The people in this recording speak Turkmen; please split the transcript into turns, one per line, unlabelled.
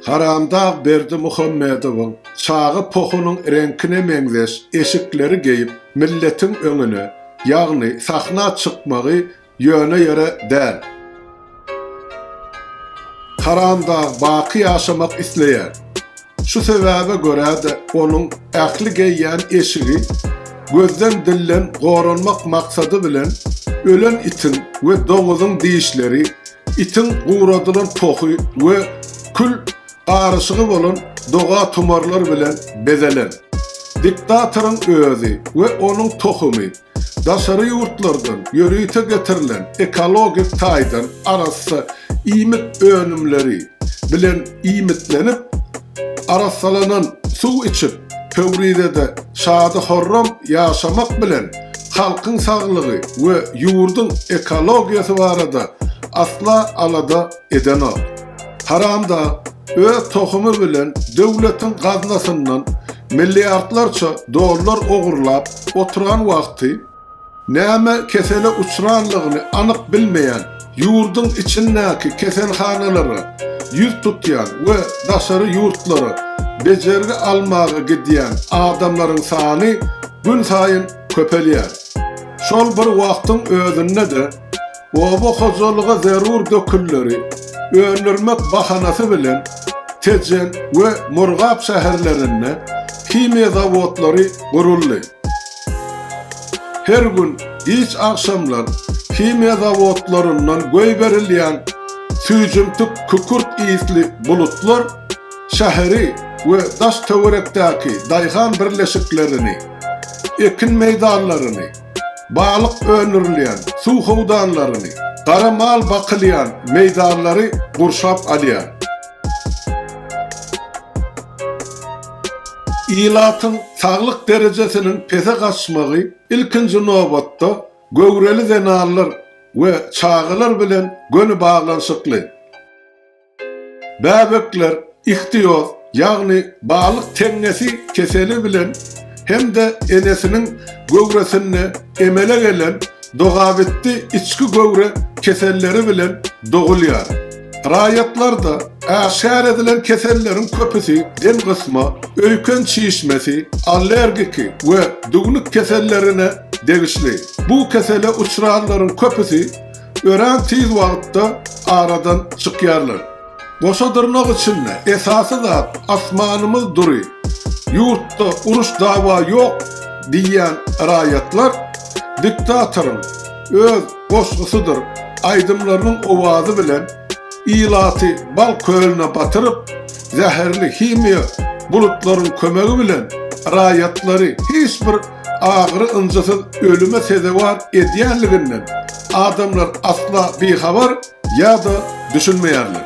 Haramdag Berdimuhamedowyň çaga pohunyň reňkine meňzeş eşikleri geýip, milletiň öňüne, ýagny sahna çykmagy ýöne ýere däl. Haramdag baky ýaşamak isleýär. Şu sebäbe görä-de onuň ähli geýýän eşigi gözden dilden goranmak maksady bilen ölen itiň we doňuzyň dişleri Itiň guradylan tohy we kül garyşygy bolan doga-tumarlar bilen bezelen. Diktatoryň özi we onuň tohumy daşary ýurtlardan ýörite getirilen ekologik taýdan arassa iýmit önümleri bilen iýmitlenip, Arassalanan suw içip, Pöwrizede şady-horram ýaşamak bilen, halkyň saglygy we ýurduň ekologiýasy barada asla alada edenok. Haramdag öz tohumy bilen döwletiň gaznasyndan milliardlarça dollar ogurlap oturan wagty, Näme kesele uçranlygyny anyk bilmeýän, ýurduň içindäki keselhanalara ýüz tutýan we daşary ýurtlara bejergi almaga gidýän adamlaryň sany günsaýyn köpelýär. Şol bir wagtyň özünde-de, oba hojalyga zerur dökünleri öndürmek bahanasy bilen Tejen we Murgap şäherlerinde himiýa zawodlary guruldy. Her gün giç agşamlar himiýa zawodlaryndan goýberilýän süýjümtik kükürt isli bulutlar şäheri we daş-töwerekdäki daýhan birleşiklerini, ekin meýdanlaryny, balyk öndürilýän suw howdanlaryny, gara mal bakylýan meýdanlary gurşap alýar. Ilatyň saglyk derejesiniň pese gaçmagy, ilkinji nobatda, göwreli zenanlar we çagalar bilen göni baglanyşykly. Bäbekler ihtioz, ýagny balyk teňňesi keseli bilen hem-de enesiniň göwresinde emele gelen dogabitdi içki göwre keselleri bilen dogulýar. Raýatlarda äşgär edilen keselleriň köpüsi demgysma, öýken çişmesi, allergiki we düwnük kesellerine degişli. Bu kesele uçranlaryň köpüsi örän tiz wagtda aradan çykýarlar. Goşa dyrnak içinde esasy zat asmanymyz dury, ýurtda uruş-dawa ýok diýýän raýatlar diktatoryň öz goşgusydyr aýdymlarynyň owazy bilen ilaty bal kölüne batyryp, zäherli himiýa bulutlaryň kömegi bilen raýatlary hiç bir agyry-ynjysyz ölüme sezewar edýänliginden adamlar asla bihabar ýa-da düşünmeýärler.